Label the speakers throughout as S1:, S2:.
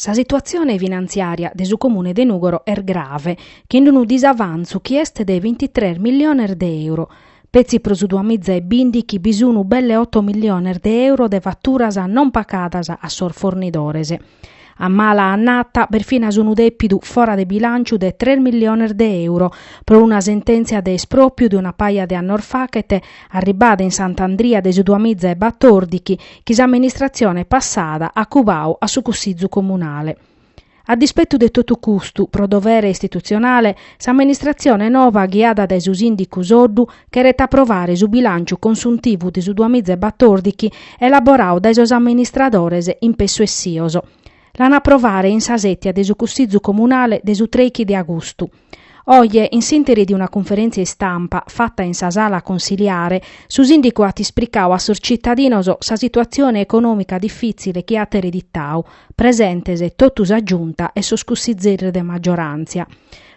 S1: Sa situatzione finantziària de su Comune de Nùgoro est grave, chin unu disavantzu chi est de bintitres milliones de euro. Petzi pro su duas miza e bìndighi bi sun belle oto milliones de euro de faturas non pagadas a sos fornidores. A mala annata b'est finas unu dèpidu fora de bilànciu de tres milliones de euro pro una sentèntzia de espròpriu de una paja de annos faghet, arribada in Sant'Andria de su duas miza e batordighi, chi s'amministratzione passada at cubau a su Cussizu Comunale. A dispetu de totu custu, pro dovere istitutzionale, s'amministratzione nova ghiada dae su sìndicu Soddu cheret aprovare su bilànciu consuntivu de su duas miza e batòrdighi elaboradu dae sos amministradores in pessu essios. L'an aprovare in sa sètia de su Cussizu Comunale de su trèighi de agustu. Oje, in s'interi de una cunferèntzia istampa fata in sa sala consiliare, su sìndicu at ispricau a sos tzitadinos sa situatzione econòmica difìtzile chi at ereditau, presentes totu sa Giunta e sos cussizeris de maggioràntzia.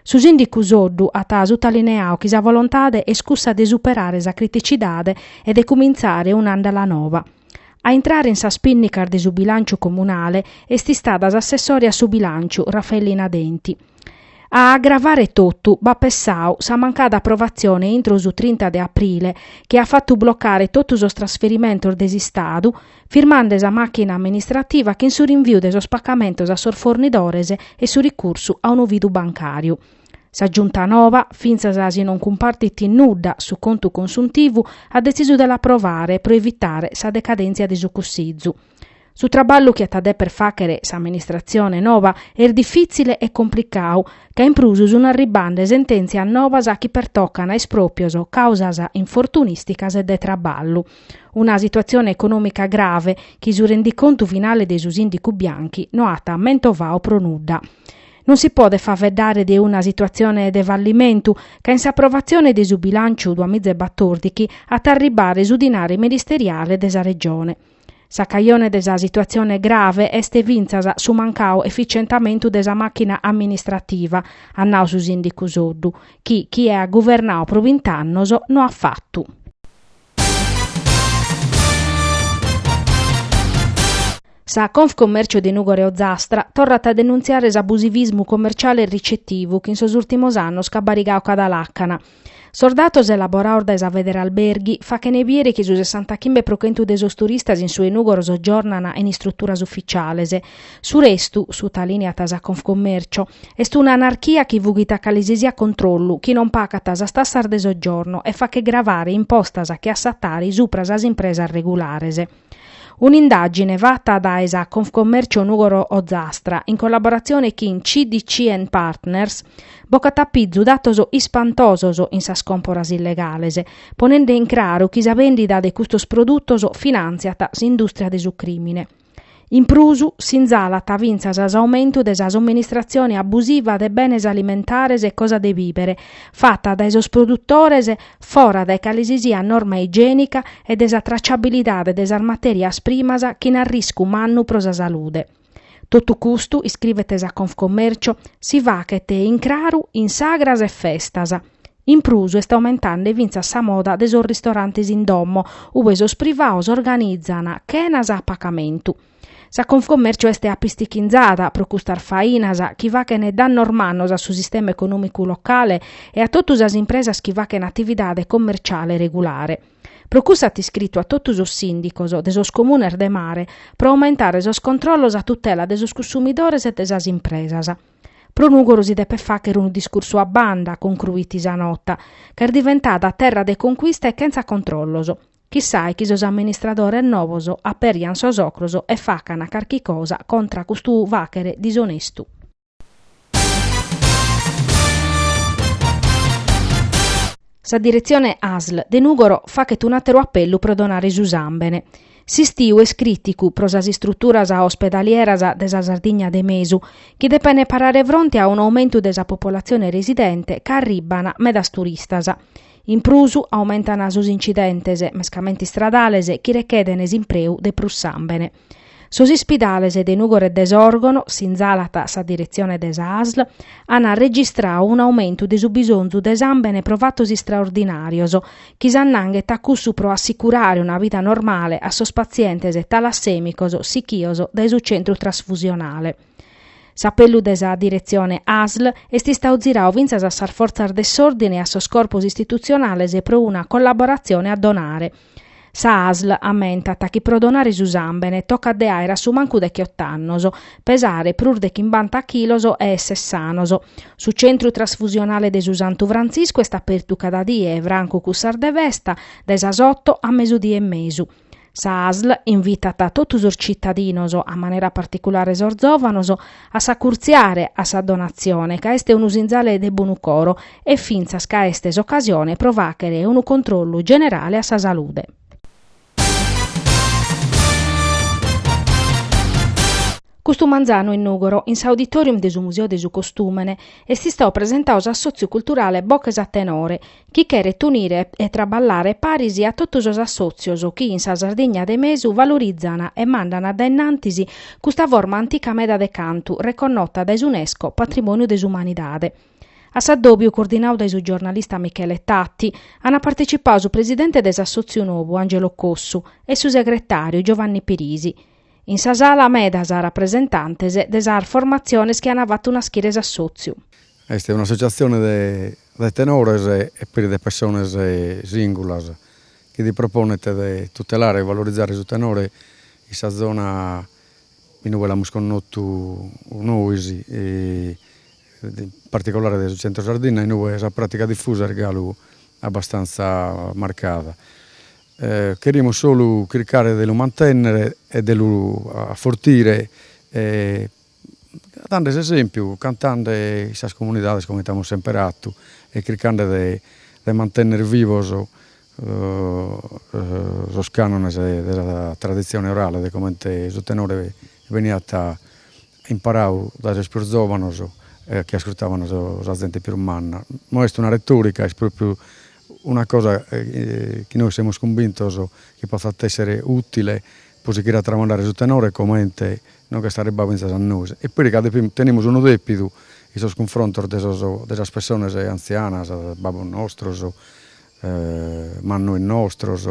S1: Su sìndicu Soddu at sutalineau chi sa volontade est cussa de superare sa criticidade e de cumintzare un'àndala nova. A intrare in sas pìnnicas de su bilànciu comunale est istada s'assessore a su bilànciu, Raffaelina Denti. A agravare totu b'at pessadu sa mancada aprovatzione intro su trinta de aprile chi at fatu blocare totu sos trasferimentos de s'Istadu, firmande sa màchina amministrativa chin su rinviu de sos pagamentos a sos fornidores e su ricursu a unu fidu bancàriu. Sa Giunta nova, fintzas si non cumpartit in nudda su contu consuntivu, at detzisu de l'aprovare pro evitare sa decadèntzia de su Cussizu. Su traballu chi at a deper fàghere s'amministratzione nova est difìtzile e complicadu, ca in prus sunt arribande sentèntzias novas chi pertocant a espròprios, càusas infortunìsticas e de traballu. Una situatzione econòmica grave chi su rendicontu finale de su sìndicu Bianchi no at mentovadu pro nudda. Non si podet faveddare de una situatzione de fallimentu, ca in s'aprovatzione de su bilànciu duamizabatordighi at a arribbare su dinari ministeriale de sa Regione. Sa cajone de sa situatzione grave est fintzas su mancadu efitzientamentu de sa màchina amministrativa, at nau su sìndicu Soddu, chi chie at guvernadu pro bint'annos no at fatu. Sa Confcommercio de Nùgoro e Ozzastra torrat a denuntziare s'abusivismu commerciale e ricettivu chi in sos ùrtimos annos ch'at barigadu cada làcana, Sos datos elaborados dae sa Federalberghi fachene biere chi su sessantachimbe pro chentu de sos turistas in su 'e Nùgoro sogiornana in istruturas ufitziales. Su restu, sutalìneat sa Confcommercio, est una anarchia chi fughet a calisisiat controllu, chi non pagat sas tassas de sogiorno e faghet gravare impostas che a sa Tari subra sas impresas regulares. Un'indàgine fata dae sa Confcommercio Nùgoro Ozastra, in collaboratzione chin CDC and Partners, bocat a pizu datos ispantosos in sas còmporas illegales, ponende in craru chi sa bèndida de custos produtos finàntziat s'indùstria de su crìmine. In prus, sinzalat fintzas s'aumentu de sa somministratzione abusiva de benes alimentares e cosa de bìbere fata dae sos produtores fora dae calesisiat norma igiènica e de sa traciabilidade de sas matèrias primas chin arriscu mannu pro sa salude. Totu custu, iscrivet sa Confcommercio, si faghet in craru in sagras e festas. In prus est aumentende fintzas sa moda de sos ristorantes in domo, ue sos privados organizan chenas a pagamentu. Sa Confcommercio est apistichinzada pro custas fainas chi faghent dannos mannos a su sistema econòmicu locale e a totu sas impresas chi faghent atividade commerciale regulare. Pro cussa at iscritu a totu sos sìndicos de sos comunes de mare pro aumentare sos controllos a tutela de sos consumidores e de sas impresas. Pro Nùgoro si depet fàghere unu discursu a banda, concruit sa nota, ca est diventada terra de conquista e chentza controllos. Chissai chi sos amministradores novos aperian sos ocros e facan carchi cosa contra custu fàghere disonestu. Sa diretzione ASL de Nùgoro faghet un'àteru apellu pro donare su sàmbene. S'istiu est crìticu pro sas istruturas ospedalieras de sa Sardigna de mesu, chi depene parare fronte a un'aumentu de sa popolatzione residente ca arribban medas turistas. In prus aumentana sos incidentes, mescamente istradales, chi recheden s'impreu de prus sambene. Sos ispidales de Nugoro e de Sorgono, sinzalat sa diretzione de sa ASL, an registrau un'aumentu de su bisonzu de sambene pro fatos istraordinarios, chi s'annanghet a cussu pro assicurare una vida normale a sos patzientes talassemicos sichios dae su centru trasfusionale. S'apellu de sa diretzione ASL est istau zirau fintzas a sas fortzas de s'òrdine e a sos corpos istitutzionales pro una collaboratzione a donare. Sa ASL ammentat chi pro donare su sàmbene tocat de àere a su mancu dechiott'annos, pesare prus de chimbanta chilos e èssere sanos. Su Centru Trasfusionale de su Santu Frantziscu est apertu cada die, francu cussas de festa, dae sas oto a mesudie e mesu. Sa ASL invitat totu sos citadinos, a manera particulare sos zòvanos, a s'acurtziare a sa donatzione ca est unu sinzale de bonu coro e fintzas ca est s'ocasione pro fàghere unu controllu generale a sa salude. Custu manzanu in Nùgoro, in s'auditorium de su Museu de su Costùmene, est istau presentau s'assòtziu culturale Boches a Tenore, chi cheret unire e traballare paris a totu sos assòtzios chi in sa Sardigna de mesu valorizan e mandan dae innantis custa forma antica meda de cantu reconnota dae s'Unesco Patrimòniu de s'Umanidade. A s'addòbiu, coordinadu dae su giornalista Michele Tatti, ant partecipadu su presidente de s'assòtziu nou Angelo Cossu e su segretàriu Giovanni Pirisi. In sa sala medas rapresentantes de sas formatziones chi ant fatu naschire s'assòtziu. Est
S2: un'assotziatzione de de tenores e peri de pessones sìngulas chi si proponet de tutelare e valorizare su tenore in sa zona in ue l'amus connotu nois, in particolare de su Centro Sardinna in ue sa pràtica difusa est galu abbastantza marcada. Cherimus solu chircare de lu mantènnere e de lu afortire Dande s'esempiu, cantande in sas comunidades comente amus semper fatu e chircande de mantenner vivos sos canones de sa traditzione orale de comente su tenore beniat imparadu dae sos pius zovanos e chi ascurtavan sa zente pius manna. No est una retorica, est propriu una cosa chi nois semus cumbintos chi potzat essere utile pro sighire a tramandare su tenore comente Non ch'est arribbau fintzas a nois. E peri ca tenemus unu depidu in sos cunfrontos de de sas pessonas antzianas, babbos nostros, mannois nostros,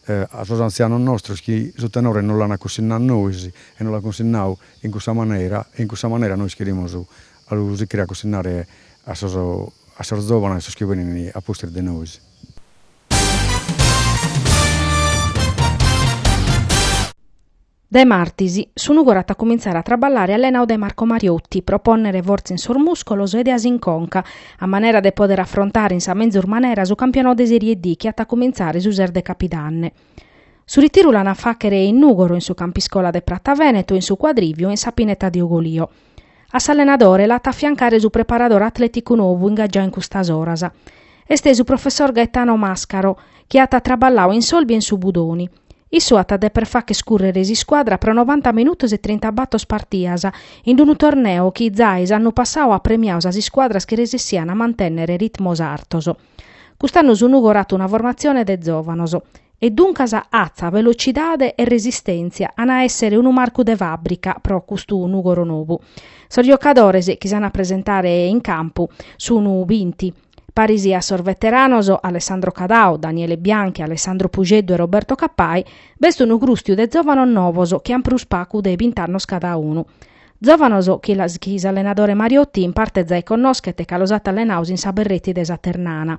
S2: a sos antzianos nostros chi su tenore nos l'an cunsinnau a nois e nos l'an cunsinnau in cussa manera e in cussa manera nois cherimus a lu sichire a cunsinnare a sos a sos zovanos, sos chi benin a pustis de nois.
S1: Dae martis, su Nùgoro at a cumintzare a traballare allenadu dae Marco Mariotti pro pònnere fortza in sos mùscolos e ideas in conca, a manera de pòdere afrontare in sa menzus manera su campionadu de Serie D chi at a cumintzare su ses de Capidanne. Su ritiru l'an a fàghere in Nùgoro in su campiscola de Pratha Veneto, in su Cuadrìviu e in sa Pineta de Ugolìo. A s'allenadore l'at a afiancare su preparadore atlèticu nou ingagiadu in custas oras. Est su professor Gaetano Mascaro, chi at traballau in s'Olbia e in su Budoni. Issu at a deper fagher cùrrere s'iscuadra pro novanta minutos e trintabàtor partidas, in d-unu torneo chi zai s'annu passau at premiau sas iscuadras chi resessian a mantènnere ritmos artos. Cust'annu su Nùgoro at una formatzione de zòvanos. e duncas atza velocidade e resistèntzia an a èssere unu marcu de fàbrica pro custu Nùgoro novu. Sos giocadores chi s'an a presentare in campu sun binti, paris a sos veteranos Alessandro Cadau, Daniele Bianchi, Alessandro Puxeddu e Roberto Cappai, b'est unu grùstiu de zòvanos novos chi an prus pagu de bint'annos cada unu. Zòvanos chi s'allenadore Mariotti in parte zai connoschet ca los at allenados in sa Berretti de sa Ternana.